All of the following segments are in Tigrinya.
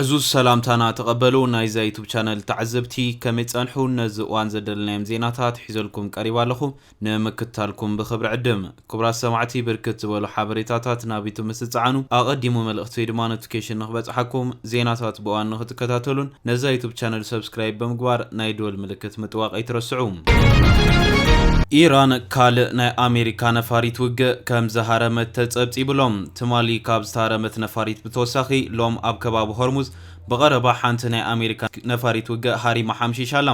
ዕዙዝ ሰላምታና ተቐበሉ ናይዛ ዩቱብ ቻነል ተዓዘብቲ ከመይ ጸንሑ ነዚ እዋን ዘደልናዮም ዜናታት ሒዘልኩም ቀሪባ ኣለኹ ንምክታልኩም ብክብሪ ዕድም ክቡራት ሰማዕቲ ብርክት ዝበሉ ሓበሬታታት ናብ ዩቱብ ምስ ዝጸዓኑ ኣቐዲሙ መልእኽቲ ወይ ድማ ኖቲፊኬሽን ንክበጽሓኩም ዜናታት ብእዋን ንክትከታተሉን ነዛ ዩቱብ ቻነል ሰብስክራይብ ብምግባር ናይ ደወል ምልክት ምጥዋቕ ኣይትረስዑ ኢራን ካልእ ናይ ኣሜሪካ ነፋሪት ውግእ ከም ዝሃረመት ተጸብጺቡሎም ትማሊ ካብ ዝተሃረመት ነፋሪት ብተወሳኺ ሎም ኣብ ከባቢ ሆርሙዝ ብቐረባ ሓንቲ ናይ ኣሜሪካ ነፋሪት ውግእ ሃሪማ ሓምሺሻ ኣላ።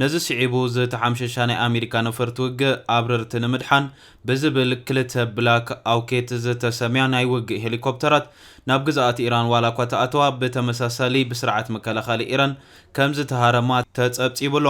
ነዚ ስዒቡ ዝተሓምሸሻ ናይ ኣሜሪካ ነፈርቲ ውግእ ኣብረርቲ ንምድሓን ብዝብል ክልተ ብላክ ኣውኬት ዝተሰምያ ናይ ውግእ ሄሊኮፕተራት ናብ ግዝኣት ኢራን ዋላኳ ተኣተዋ ብተመሳሳሊ ብስርዓት መከላኸሊ ኢራን ከምዝተሃረማ ተፀብፂቡ'ሎ።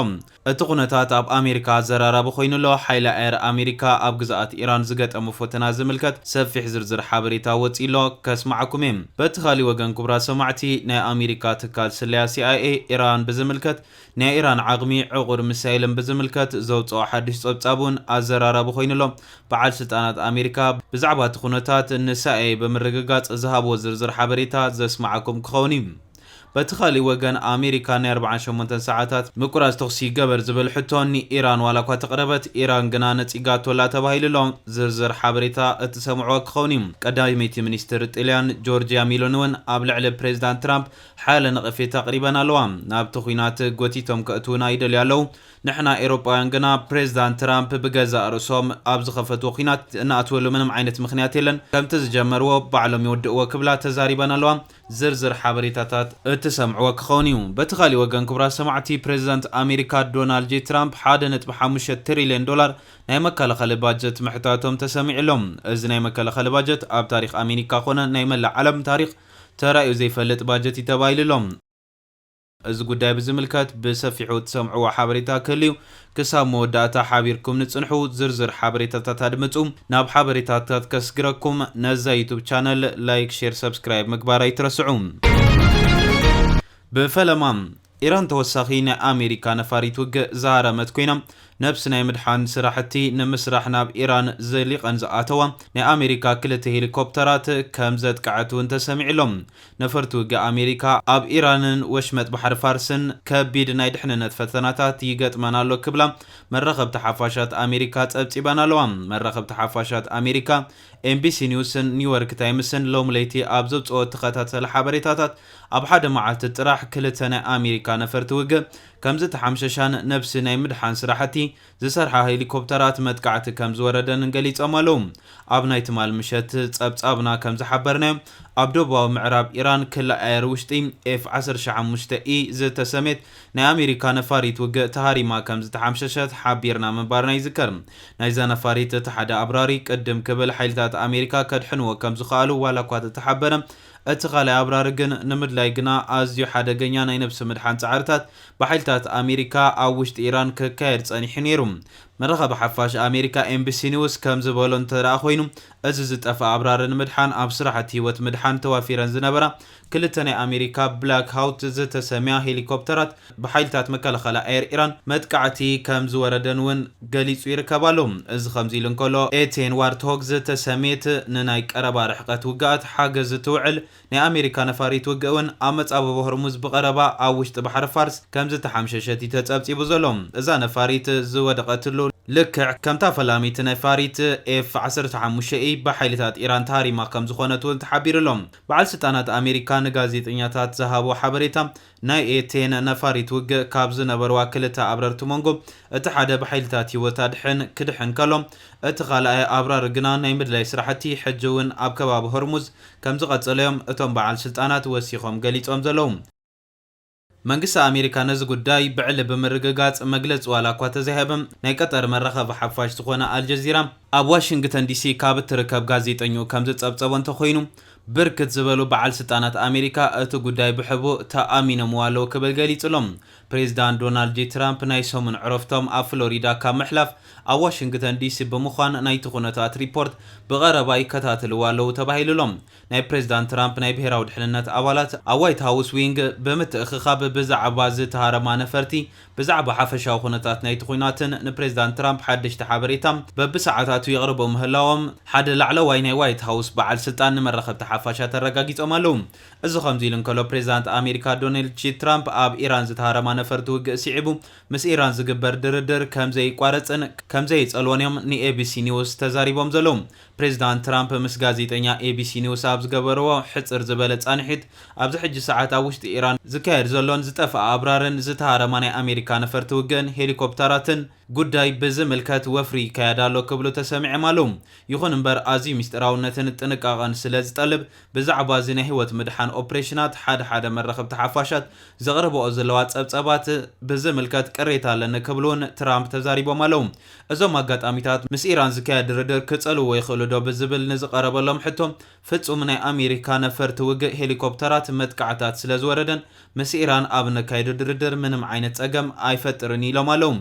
እቲ ኩነታት ኣብ ኣሜሪካ ኣዘራራቢ ኮይኑ'ሎ። ሓይሊ ኣየር ኣሜሪካ ኣብ ግዝኣት ኢራን ዝገጠሞ ፈተና ዝምልከት ሰፊሕ ዝርዝር ሓበሬታ ወጺኡ'ሎ፣ ከስማዓኩም'የ። በቲ ካሊእ ወገን ክቡራት ሰማዕቲ፣ ናይ ኣሜሪካ ትካል ስለያ ሲኣይኤ፣ ኢራን ብዝምልከት ናይ ኢራን ዓቕሚ ዕቑር ሚሳይልን ብዝምልከት ዘውጽኦ ሓድሽ ጸብጻብ'ውን ኣዘራራቢ ኮይኑ'ሎ። በዓል ስልጣናት ኣሜሪካ ብዛዕባ'ቲ ኩነታት ንሳይኤ ብምርግጋጽ ዝሃብዎ ዝርዝር ሓበሬታ ዘስማዓኩም ክኸውን'ዩ። በቲ ካልእ ወገን ኣሜሪካ ናይ ኣርብዓን ሸሞንተን ሰዓታት ምቁራጽ ተኹሲ ይገበር ዝብል ሕቶ ንኢራን ዋላኳ ተቕረበት ኢራን ግና ነጺጋቶላ ተባሂሉ'ሎ። ዝርዝር ሓበሬታ እትሰምዕዎ ክኸውን እዩ። ቀዳመይቲ ሚኒስትር ጥልያን ጆርጂያ ሚሎኒ'ውን ኣብ ልዕሊ ፕሬዚዳንት ትራምፕ ሓያለ ነቐፌታ ኣቕሪበን ኣለዋ። ናብቲ ኹናት ጎቲቶም ከእትዉና ይደልዩ ኣለዉ። ንሕና ኤሮጳውያን ግና ፕሬዚዳንት ትራምፕ ብገዛእ ርእሶም ኣብ ዝኸፈትዎ ኹናት እንኣትወሉ ምንም ዓይነት ምኽንያት የለን። ከምቲ ዝጀመርዎ ባዕሎም ይውድእዎ ክብላ ተዛሪበን ኣለዋ። ዝርዝር ሓበሬታታት እትሰምዕዎ ክኸውን እዩ። በቲ ካሊእ ወገን ክቡራት ሰማዕቲ ፕሬዚዳንት ኣሜሪካ ዶናልድ ጄ ትራምፕ ሓደ ነጥቢ ሓሙሽተ ትሪሊየን ዶላር ናይ መከላኸሊ ባጀት ምሕታቶም ተሰሚዑ ኣሎ። እዚ ናይ መከላኸሊ ባጀት ኣብ ታሪኽ ኣሜኒካ ኮነ ናይ መላእ ዓለም ታሪኽ ተራእዩ ዘይፈልጥ ባጀት እዩ ተባሂሉ ኣሎ። እዚ ጉዳይ ብዝምልከት ብሰፊሑ እትሰምዕዎ ሓበሬታ ክህሉ'ዩ። ክሳብ መወዳእታ ሓቢርኩም ንጽንሑ። ዝርዝር ሓበሬታታት ኣድምጹ። ናብ ሓበሬታታት ከስግረኩም ነዛ ዩቱብ ቻነል ላይክ ሼር ሰብስክራይብ ምግባር ኣይትረስዑ። ብፈለማ ኢራን ተወሳኺ ናይ ኣሜሪካ ነፋሪት ውግእ ዝሃረመት ኮይና፣ ነብሲ ናይ ምድሓን ስራሕቲ ንምስራሕ ናብ ኢራን ዘሊቐን ዝኣተዋ ናይ ኣሜሪካ ክልተ ሄሊኮፕተራት ከምዘጥቅዐት'ውን ተሰሚዑ'ሎ። ነፈርቲ ውግእ ኣሜሪካ ኣብ ኢራንን ወሽመጥ ባሕሪ ፋርስን ከቢድ ናይ ድሕንነት ፈተናታት ይገጥመን ኣሎ ክብላ መራኸብቲ ሓፋሻት ኣሜሪካ ጸብጺበን ኣለዋ። መራኸብቲ ሓፋሻት ኣሜሪካ ኤንቢሲ ኒውስን ኒውዮርክ ታይምስን ሎሚ ለይቲ ኣብ ዘውጽኦ ተኸታተሊ ሓበሬታታት ኣብ ሓደ መዓልቲ ጥራሕ ክልተ ናይ ኣሜሪካ ነፈርቲ ውግእ ከምዝተሓምሸሻን ነብሲ ናይ ምድሓን ስራሕቲ ዝሰርሓ ሄሊኮፕተራት መጥቃዕቲ ከም ዝወረደንን ገሊጾም ኣለዉ። ኣብ ናይ ትማል ምሸት ጸብጻብና ከም ዝሓበርናዮ፣ ኣብ ደቡባዊ ምዕራብ ኢራን ክሊ ኣየር ውሽጢ ኤፍ ዓሰርተ ሸሞንተ ኢ ዝተሰምየት ናይ ኣሜሪካ ነፋሪት ውግእ ተሃሪማ ከም ዝተሓምሸሸት ሓቢርና ምንባርና ይዝከር። ናይዛ ነፋሪት እቲ ሓደ ኣብራሪ ቅድም ክብል ሓይልታት ኣሜሪካ ከድሕንዎ ከም ዝኸኣሉ ዋላኳ ተተሓበረ፣ እቲ ካልኣይ ኣብራሪ ግን ንምድላይ ግና ኣዝዩ ሓደገኛ ናይ ነብሲ ምድሓን ጻዕርታት ብሓይልታት ኣሜሪካ ኣብ ውሽጢ ኢራን ክካየድ ጸኒሑ ነይሩ። መራኸቢ ሓፋሽ ኣሜሪካ ኤንቢሲ ኒውስ ከም ዝበሎ እንተድኣ ኮይኑ እዚ ዝጠፍኣ ኣብራሪ ንምድሓን ኣብ ስራሕቲ ህይወት ምድሓን ተዋፊረን ዝነበራ ክልተ ናይ ኣሜሪካ ብላክ ሃውት ዝተሰምያ ሄሊኮፕተራት ብሓይልታት መከላኸሊ ኣየር ኢራን መጥቃዕቲ ከም ዝወረደን እውን ገሊጹ ይርከብ ኣሎ። እዚ ከምዚ ኢሉ እንከሎ፣ ኤቴን ዋርትሆግ ዝተሰምየት ንናይ ቀረባ ርሕቀት ውግኣት ሓገዝ እትውዕል ናይ ኣሜሪካ ነፋሪት ውግእ እውን ኣብ መጻብቦ ሆርሙዝ ብቐረባ ኣብ ውሽጢ ባሕሪ ፋርስ ከም ዝተሓምሸሸት እዩ ተጸብጺቡ ዘሎ። እዛ ነፋሪት ዝወደቐትሉ ልክዕ ከምታ ፈላሚት ነፋሪት ኤፍ ዓሰርተ ሓሙሽተ ኢ ብሓይልታት ኢራን ተሃሪማ ከም ዝኾነት እውን ተሓቢሩ ኣሎ። በዓል ስልጣናት ኣሜሪካ ንጋዜጠኛታት ዝሃብዎ ሓበሬታ ናይ ኤቴን ነፋሪት ውግእ ካብ ዝነበርዋ ክልተ ኣብረርቲ ሞንጎ እቲ ሓደ ብሓይልታት ህይወት ኣድሕን ክድሕን ከሎ እቲ ካልኣይ ኣብራሪ ግና ናይ ምድላይ ስራሕቲ ሕጂ እውን ኣብ ከባቢ ሆርሙዝ ከምዝቐፀለ እዮም እቶም በዓል ስልጣናት ወሲኾም ገሊፆም ዘለዉ። መንግስቲ ኣሜሪካ ነዚ ጉዳይ ብዕሊ ብምርግጋፅ መግለፂ ዋላ እኳ ተዘይሃበ ናይ ቀጠር መራኸቢ ሓፋሽ ዝኾነ ኣልጀዚራ ኣብ ዋሽንግተን ዲሲ ካብ እትርከብ ጋዜጠኝኡ ከምዝፀብፀቦ እንተኾይኑ ብርክት ዝበሉ በዓል ስልጣናት ኣሜሪካ እቲ ጉዳይ ብሕቡእ ተኣሚኖምዎ ኣለዉ ክብል ገሊጹ'ሎ። ፕሬዝዳንት ዶናልድ ጄ ትራምፕ ናይ ሰሙን ዕረፍቶም ኣብ ፍሎሪዳ ካብ ምሕላፍ ኣብ ዋሽንግተን ዲሲ ብምዃን ናይቲ ኩነታት ሪፖርት ብቐረባ ይከታተልዎ ኣለዉ ተባሂሉ'ሎ። ናይ ፕሬዝዳንት ትራምፕ ናይ ብሄራዊ ድሕንነት ኣባላት ኣብ ዋይት ሃውስ ዊንግ ብምትእኽኻብ ብዛዕባ ዝተሃረማ ነፈርቲ ብዛዕባ ሓፈሻዊ ኩነታት ናይቲ ኵናትን ንፕሬዝዳንት ትራምፕ ሓደሽቲ ሓበሬታ በብሰዓታቱ የቕርቡ ምህላዎም ሓደ ላዕለዋይ ናይ ዋይት ሃውስ በዓል ስልጣን ንመራኸብቲ ሓፋሻት ኣረጋጊጾም ኣለዉ። እዚ ከምዚ ኢሉ እንከሎ ፕሬዝዳንት ኣሜሪካ ዶኔልድ ጂ ትራምፕ ኣብ ኢራን ዝተሃረማ ነፈርቲ ውግእ ስዒቡ ምስ ኢራን ዝግበር ድርድር ከምዘይቋረጽን ከምዘይጸልዎን'ዮም ንኤቢሲ ኒውስ ተዛሪቦም ዘለዉ። ፕሬዝዳንት ትራምፕ ምስ ጋዜጠኛ ኤቢሲ ኒውስ ኣብ ዝገበርዎ ሕጽር ዝበለ ጻንሒት፣ ኣብዚ ሕጂ ሰዓት ኣብ ውሽጢ ኢራን ዝካየድ ዘሎን ዝጠፍኣ ኣብራርን ዝተሃረማ ናይ ኣሜሪካ ነፈርቲ ውግእን ሄሊኮፕታራትን ጉዳይ ብዝምልከት ወፍሪ ይካየድ ኣሎ ክብሉ ተሰሚዕም ኣለው። ይኹን እምበር ኣዝዩ ሚስጢራውነትን ጥንቃቐን ስለ ዝጠልብ ብዛዕባ እዚ ናይ ህይወት ምድሓን ኦፕሬሽናት ሓደ ሓደ መራኸብቲ ሓፋሻት ዘቕርበኦ ዘለዋ ጸብጸባት ብዝምልከት ቅሬታ ኣለኒ ክብሉ'ውን ትራምፕ ተዛሪቦም ኣለው። እዞም ኣጋጣሚታት ምስ ኢራን ዝካየድ ድርድር ክጸልውዎ ይኽእሉ'ዶ ብዝብል ንዝቐረበሎም ሕቶ፣ ፍጹም ናይ ኣሜሪካ ነፈርቲ ውግእ ሄሊኮፕተራት መጥቃዕታት ስለዝወረደን ምስ ኢራን ኣብ ነካይዶ ድርድር ምንም ዓይነት ጸገም ኣይፈጥርን ኢሎም ኣለው።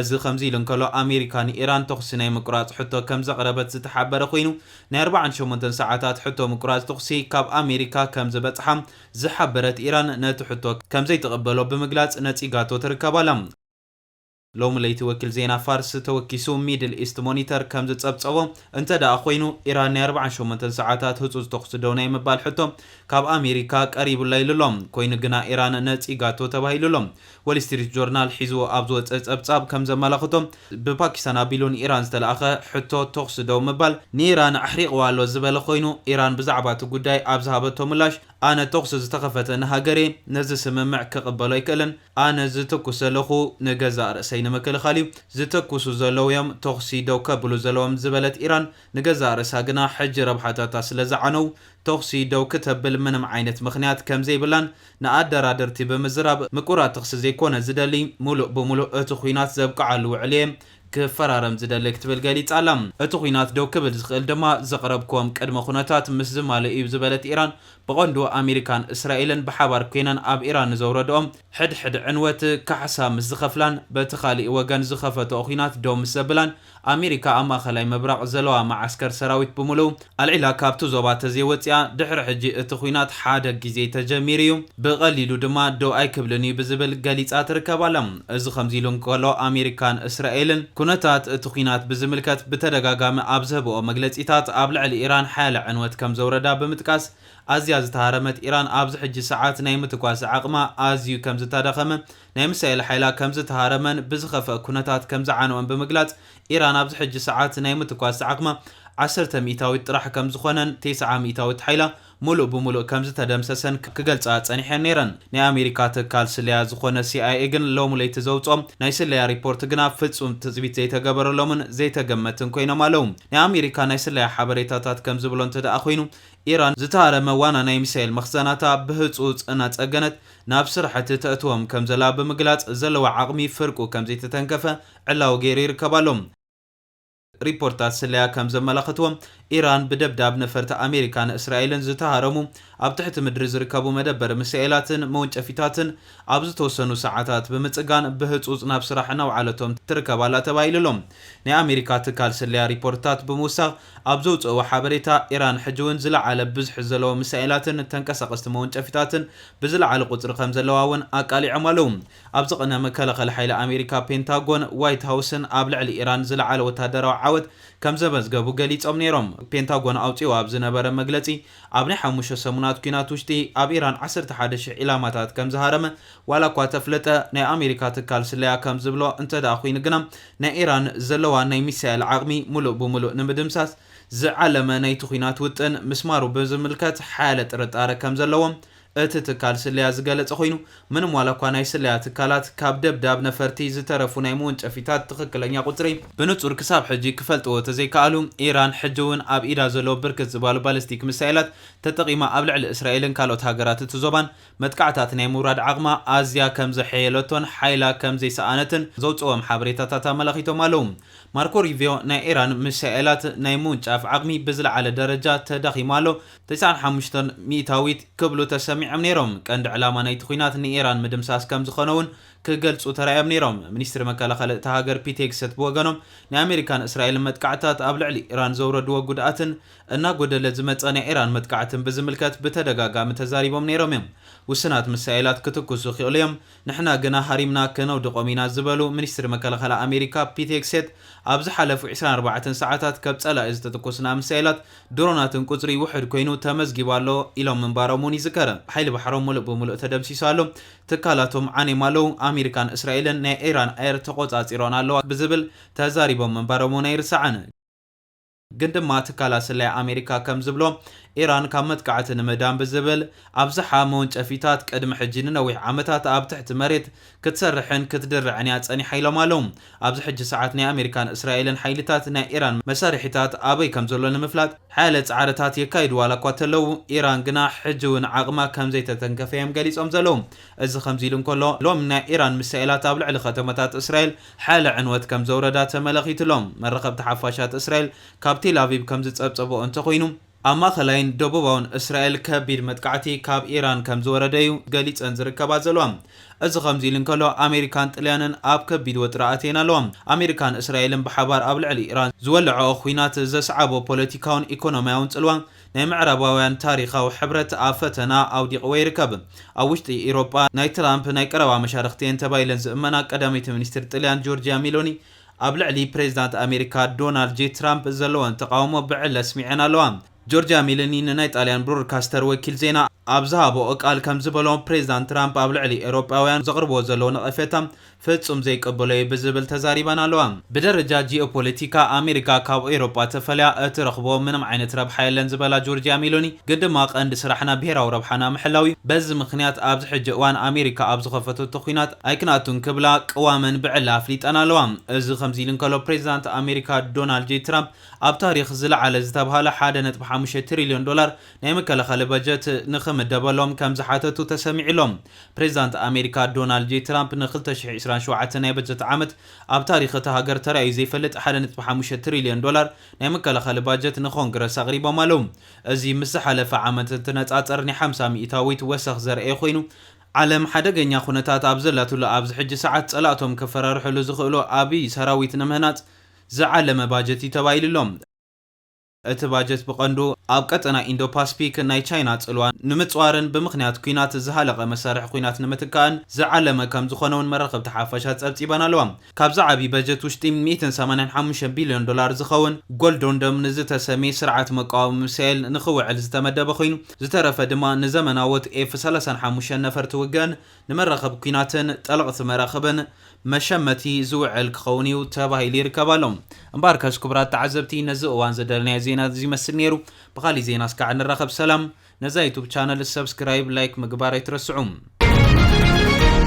እዚ ከምዚ ኢሉ እንከሎ ኣሜሪካ ንኢራን ተኹሲ ናይ ምቁራጽ ሕቶ ከምዘቕረበት ዝተሓበረ ኮይኑ፣ ናይ ኣርብዓን ሸሞንተን ሰዓታት ሕቶ ምቁራጽ ተኹሲ ካብ ኣሜሪካ ከምዝበጽሓ ዝሓበረት ኢራን ነቲ ሕቶ ከምዘይትቕበሎ ብምግላጽ ነጺጋቶ ትርከብ ኣላ። ሎሚ ለይቲ ወኪል ዜና ፋርስ ተወኪሱ ሚድል ኢስት ሞኒተር ከም ዝጸብጸቦ እንተድኣ ኮይኑ፣ ኢራን ናይ ኣርብዓን ሸሞንተን ሰዓታት ህጹጽ ተኹሲ ደው ናይ ምባል ሕቶ ካብ ኣሜሪካ ቀሪቡላ ኢሉ ኣሎ። ኮይኑ ግና ኢራን ነጺጋቶ ተባሂሉ ኣሎ። ወል ስትሪት ጆርናል ሒዝዎ ኣብ ዝወጸ ጸብጻብ ከም ዘመላኽቶ፣ ብፓኪስታን ኣቢሉ ንኢራን ዝተላእከ ሕቶ ተኹሲ ደው ምባል፣ ንኢራን ኣሕሪቕዋ ኣሎ ዝበለ ኮይኑ፣ ኢራን ብዛዕባ እቲ ጉዳይ ኣብ ዝሃበቶ ምላሽ፣ ኣነ ተኹሲ ዝተኸፈተ ንሃገር'የ፣ ነዚ ስምምዕ ክቕበሎ ኣይክእልን፣ ኣነ ዝትኩስ ዘለኩ ንገዛእ ርእሰይ ንምክልኻል እዩ ዝተኩሱ ዘለዉ እዮም ተኹሲ ደው ከብሉ ዘለዎም ዝበለት ኢራን ንገዛእ ርእሳ ግና ሕጂ ረብሓታታ ስለዝዓነው ተኹሲ ደው ክተብል ምንም ዓይነት ምኽንያት ከምዘይብላን ንኣደራደርቲ ብምዝራብ ምቁራጽ ተኽሲ ዘይኮነ ዝደሊ ሙሉእ ብሙሉእ እቲ ኹናት ዘብቅዓሉ ውዕል እየ ክፈራረም ዝደሊ ክትብል ገሊጻ'ላ። እቲ ኲናት ደው ክብል ዝኽእል ድማ ዘቕረብክዎም ቅድመ ኩነታት ምስ ዝማልእ'ዩ ዝበለት ኢራን፣ ብቐንዱ ኣመሪካን እስራኤልን ብሓባር ኰይነን ኣብ ኢራን ንዘውረድኦ ሕድሕድ ዕንወት ካሕሳ ምስ ዝኸፍላን በቲ ካልእ ወገን ዝኸፈትኦ ኲናት ደው ምስ ዘብላን፣ ኣመሪካ ኣብ ማእከላይ ምብራቕ ዘለዋ መዓስከር ሰራዊት ብምሉኡ ኣልዒላ ካብቲ ዞባ ተዘይወጺኣ ድሕሪ ሕጂ እቲ ኹናት ሓደ ግዜ ተጀሚሩ እዩ፣ ብቐሊሉ ድማ ደው ኣይክብልን እዩ ብዝብል ገሊጻ ትርከብ ኣላ። እዚ ከምዚ ኢሉ እንከሎ ኣሜሪካን እስራኤልን ኩነታት እቲ ኹናት ብዝምልከት ብተደጋጋሚ ኣብ ዝህበኦ መግለጺታት ኣብ ልዕሊ ኢራን ሓያለ ዕንወት ከምዘውረዳ ብምጥቃስ ኣዝያ ዝተሃረመት ኢራን ኣብዚ ሕጂ ሰዓት ናይ ምትኳስ ዓቕማ ኣዝዩ ከምዝተዳኸመ ናይ ምሳኤል ሓይላ ከምዝተሃረመን ብዝኸፈኣ ኩነታት ከምዝዓነወን ብምግላጽ ኢራን ኣብዚ ሕጂ ሰዓት ናይ ምትኳስ ዓቕማ ዓሰርተ ሚኢታዊት ጥራሕ ከም ዝኾነን ቴስዓ ሚኢታዊት ሓይላ ሙሉእ ብሙሉእ ከም ዝተደምሰሰን ክገልጻ ጸኒሐን ነይረን። ናይ ኣሜሪካ ትካል ስለያ ዝኾነ ሲኣይኤ ግን ሎሚ ለይቲ ዘውጽኦ ናይ ስለያ ሪፖርት ግና ፍጹም ትጽቢት ዘይተገበረሎምን ዘይተገመትን ኮይኖም ኣለው። ናይ ኣሜሪካ ናይ ስለያ ሓበሬታታት ከም ዝብሎ እንተድኣ ኮይኑ ኢራን ዝተሃረመ ዋና ናይ ሚሳይል መኽዘናታ ብህጹጽ እናጸገነት ናብ ስራሕቲ ተእትዎም ከም ዘላ ብምግላጽ ዘለዋ ዓቕሚ ፍርቁ ከም ዘይተተንከፈ ዕላዊ ገይሩ ይርከብ ኣሎ። ሪፖርታት ስለያ ከም ዘመላኽትዎ፣ ኢራን ብደብዳብ ነፈርቲ ኣሜሪካን እስራኤልን ዝተሃረሙ ኣብ ትሕቲ ምድሪ ዝርከቡ መደበሪ ሚሳኤላትን መወንጨፊታትን ኣብ ዝተወሰኑ ሰዓታት ብምጽጋን ብህጹጽ ናብ ስራሕ እናውዓለቶም ትርከብ ኣላ ተባሂሉ ኣሎ። ናይ ኣሜሪካ ትካል ስለያ ሪፖርትታት ብምውሳኽ ኣብ ዘውጽእዎ ሓበሬታ፣ ኢራን ሕጂ'ውን ዝለዓለ ብዝሒ ዘለዎም ሚሳኤላትን ተንቀሳቐስቲ መወንጨፊታትን ብዝለዓለ ቁጽሪ ከም ዘለዋ'ውን ኣቃሊዖም ኣለዉ። ኣብዚ ቅነ መከላኸሊ ሓይሊ ኣሜሪካ፣ ፔንታጎን፣ ዋይት ሃውስን ኣብ ልዕሊ ኢራን ዝለዓለ ወታደራዊ ዓወት ከምዘመዝገቡ ገሊጾም ነይሮም። ፔንታጎን ኣውጺኡ ኣብ ዝነበረ መግለጺ፣ ኣብ ናይ ሓሙሽተ ሰሙናት ኲናት ውሽጢ ኣብ ኢራን ዓሰርተ ሓደ ሽሕ ዒላማታት ከምዝሃረመ ዋላኳ ተፍለጠ፣ ናይ ኣሜሪካ ትካል ስለያ ከምዝብሎ እንተድኣ ኹይኑ ግና ናይ ኢራን ዘለዋ ናይ ሚሳኤል ዓቕሚ ሙሉእ ብሙሉእ ንምድምሳስ ዝዓለመ ናይቲ ኲናት ውጥን ምስማሩ ብዝምልከት ሓያለ ጥርጣረ ከምዘለዎም እቲ ትካል ስለያ ዝገለፀ ኮይኑ፣ ምንም ዋላኳ ናይ ስለያ ትካላት ካብ ደብዳብ ነፈርቲ ዝተረፉ ናይ መወንጨፊታት ትኽክለኛ ቁፅሪ፣ ብንፁር ክሳብ ሕጂ ክፈልጥዎ ተዘይከኣሉ፣ ኢራን ሕጂ እውን ኣብ ኢዳ ዘሎ ብርክት ዝባሉ ባሊስቲክ ሚሳኤላት ተጠቒማ ኣብ ልዕሊ እስራኤልን ካልኦት ሃገራት እቲ ዞባን መጥቃዕታት ናይ ምውራድ ዓቕማ ኣዝያ ከምዘሐየለቶን ሓይላ ከምዘይሰኣነትን ዘውፅእዎም ሓበሬታታት ኣመላኺቶም ኣለው። ማርኮ ሩቢዮ ናይ ኢራን ሚሳኤላት ናይ ምውንጫፍ ዓቕሚ ብዝለዓለ ደረጃ ተዳኺሙ ኣሎ፣ ተስዓን ሓሙሽተን ሚእታዊት ክብሉ ተሰሚዖም ነይሮም። ቀንዲ ዕላማ ናይቲ ኲናት ንኢራን ምድምሳስ ከም ዝኾነ'ውን ክገልጹ ተራእዮም ነይሮም። ሚኒስትሪ መከላኸሊ እታ ሃገር ፒት ሄግሰት ብወገኖም ናይ ኣመሪካን እስራኤልን መጥቃዕትታት ኣብ ልዕሊ ኢራን ዘውረድዎ ጉድኣትን እናጎደለ ዝመጸ ናይ ኢራን መጥቃዕትን ብዝምልከት ብተደጋጋሚ ተዛሪቦም ነይሮም'ዮም። ውሱናት ምሳኤላት ክትኩሱ ይኽእሉ'ዮም። ንሕና ግና ሃሪምና ከነውድቖም ኢና ዝበሉ ሚኒስትሪ መከላኸሊ ኣሜሪካ ፒት ሄግሴት ኣብ ዝሓለፉ ዕስራን ኣርባዕተን ሰዓታት ከብ ፀላኢ ዝተተኮሱና ሚሳይላት ድሮናትን ቁፅሪ ውሕድ ኮይኑ ተመዝጊቡ ኣሎ ኢሎም ምንባሮም እውን ይዝከር። ሓይሊ ባሕሮም ሙሉእ ብሙሉእ ተደምሲሱ ኣሎ፣ ትካላቶም ዓንዮም ኣለው፣ ኣሜሪካን እስራኤልን ናይ ኢራን ኣየር ተቖፃፂረኦን ኣለዋ ብዝብል ተዛሪቦም ምንባሮም እውን ኣይርሳዕን። ግን ድማ ትካላት ስለያ ኣሜሪካ ከም ዝብሎ፣ ኢራን ካብ መጥቃዕቲ ንምእዳን ብዝብል፣ ኣብዝሓ መወንጨፊታት ቅድሚ ሕጂ ንነዊሕ ዓመታት ኣብ ትሕቲ መሬት ክትሰርሕን ክትድርዕን እያ ጸኒሓ ኢሎም ኣለው። ኣብዚ ሕጂ ሰዓት ናይ ኣሜሪካን እስራኤልን ሓይልታት ናይ ኢራን መሳርሒታት ኣበይ ከም ዘሎ ንምፍላጥ ሓያለ ጻዕርታት የካይዱ ዋላኳ እተለው፣ ኢራን ግና ሕጂ'ውን ዓቕማ ከም ዘይተተንከፈ እዮም ገሊጾም ዘለው። እዚ ከምዚ ኢሉ እንከሎ፣ ሎሚ ናይ ኢራን ሚሳኤላት ኣብ ልዕሊ ከተማታት እስራኤል ሓያለ ዕንወት ከም ዘውረዳ ተመለኺቱ'ሎ። መራኸብቲ ሓፋሻት እስራኤል ካብ ቴልኣቪቭ ከም ዝጸብጸበኦ እንተኾይኑ፣ ኣብ ማእከላይን ደቡባውን እስራኤል ከቢድ መጥቃዕቲ ካብ ኢራን ከም ዝወረደ'ዩ ገሊጸን ዝርከባ ዘለዋ። እዚ ከምዚ ኢሉ እንከሎ፣ ኣሜሪካን ጥልያንን ኣብ ከቢድ ወጥሪ ኣትየን ኣለዋ። ኣሜሪካን እስራኤልን ብሓባር ኣብ ልዕሊ ኢራን ዝወለዐኦ ኲናት ዘስዓቦ ፖለቲካውን ኢኮኖሚያውን ጽልዋ፣ ናይ ምዕራባውያን ታሪኻዊ ሕብረት ኣብ ፈተና ኣውዲቕዎ ይርከብ። ኣብ ውሽጢ ኢሮጳ ናይ ትራምፕ ናይ ቀረባ መሻርኽቲ'የን ተባሂለን ዝእመና ቀዳመይቲ ሚኒስትር ጥልያን ጆርጂያ ሚሎኒ ኣብ ልዕሊ ፕሬዚዳንት ኣሜሪካ ዶናልድ ጄ ትራምፕ ዘለወን ተቓውሞ ብዕሊ ኣስሚዐን ኣለዋ። ጆርጂያ ሚሎኒ ንናይ ጣልያን ብሮድካስተር ወኪል ዜና ኣብ ዝሃበኦ ቃል ከምዝበሎ ፕሬዚዳንት ትራምፕ ኣብ ልዕሊ ኤሮጳውያን ዘቕርብዎ ዘለዉ ነቐፌታ ፍጹም ዘይቅበሎ እየ ብዝብል ተዛሪበን ኣለዋ። ብደረጃ ጂኦፖለቲካ፣ ኣሜሪካ ካብ ኤውሮጳ ተፈልያ እትረኽቦ ምንም ዓይነት ረብሓ የለን ዝበላ ጆርጂያ ሜሎኒ፣ ግን ድማ ቀንዲ ስራሕና ብሄራዊ ረብሓና ምሕላው እዩ፣ በዚ ምኽንያት ኣብዚ ሕጂ እዋን ኣሜሪካ ኣብ ዝኸፈተቶ ኲናት ኣይክንኣቱን ክብላ ቅዋመን ብዕሊ ኣፍሊጠን ኣለዋ። እዚ ከምዚ ኢሉ እንከሎ፣ ፕሬዚዳንት ኣሜሪካ ዶናልድ ጄይ ትራምፕ ኣብ ታሪኽ ዝለዓለ ዝተብሃለ ሓደ ነጥቢ ሓሙሽተ ትሪልዮን ዶላር ናይ መከላኸሊ በጀት ንኽምደበሎም ከም ዝሓተቱ ተሰሚዑ'ሎ። ፕሬዚዳንት ኣሜሪካ ዶናልድ ጄይ ትራምፕ ን ክልተ ሽሕ ዒስራን ሸውዓተን ናይ በጀት ዓመት ኣብ ታሪኽ እታ ሃገር ተራእዩ ዘይፈልጥ ሓደ ነጥቢ ሓሙሽተ ትሪልዮን ዶላር ናይ መከላኸሊ ባጀት ንኮንግረስ ኣቕሪቦም ኣለው። እዚ ምስ ዝሓለፈ ዓመት እንትነፃፀር ናይ ሓምሳ ሚኢታዊት ወሰኽ ዘርኣየ ኮይኑ፣ ዓለም ሓደገኛ ኩነታት ኣብ ዘላትሉ ኣብዚ ሕጂ ሰዓት ፀላእቶም ከፈራርሕሉ ዝኽእሉ ዓብዪ ሰራዊት ንምህናፅ ዝዓለመ ባጀት እዩ ተባሂሉ'ሎ። እቲ ባጀት ብቐንዱ ኣብ ቀጠና ኢንዶ-ፓስፊክ ናይ ቻይና ጽልዋ ንምጽዋርን ብምኽንያት ኲናት ዝሃለቐ መሳርሒ ኲናት ንምትካእን ዝዓለመ ከምዝኾነ'ውን መራኸብቲ ሓፋሽ ኣጸብጺበን ኣለዋ። ካብዚ ዓቢ በጀት ውሽጢ ሚእትን ሰማንያን ሓሙሽተን ቢልዮን ዶላር ዝኸውን ጎልዶን ዶም ንዝተሰምየ ስርዓት መቃወሚ ሚሳይል ንኽውዕል ዝተመደበ ኮይኑ ዝተረፈ ድማ ንዘመናዎት ኤፍ ሰላሳን ሓሙሽተን ነፈርቲ ውግእን ንመራኽብ ኲናትን ጠለቕቲ መራኽብን መሸመቲ ዝውዕል ክኸውን እዩ ተባሂሉ ይርከብ ኣሎ። እምበኣርከስ ክቡራት ተዓዘብቲ ነዚ እዋን ዝደለናዮ ዜና እዚ ይመስል ነይሩ። ብኻሊእ ዜና እስካዕ ንራኸብ ሰላም። ነዛ ዩቱብ ቻነል ሰብስክራይብ፣ ላይክ ምግባር ኣይትረስዑ።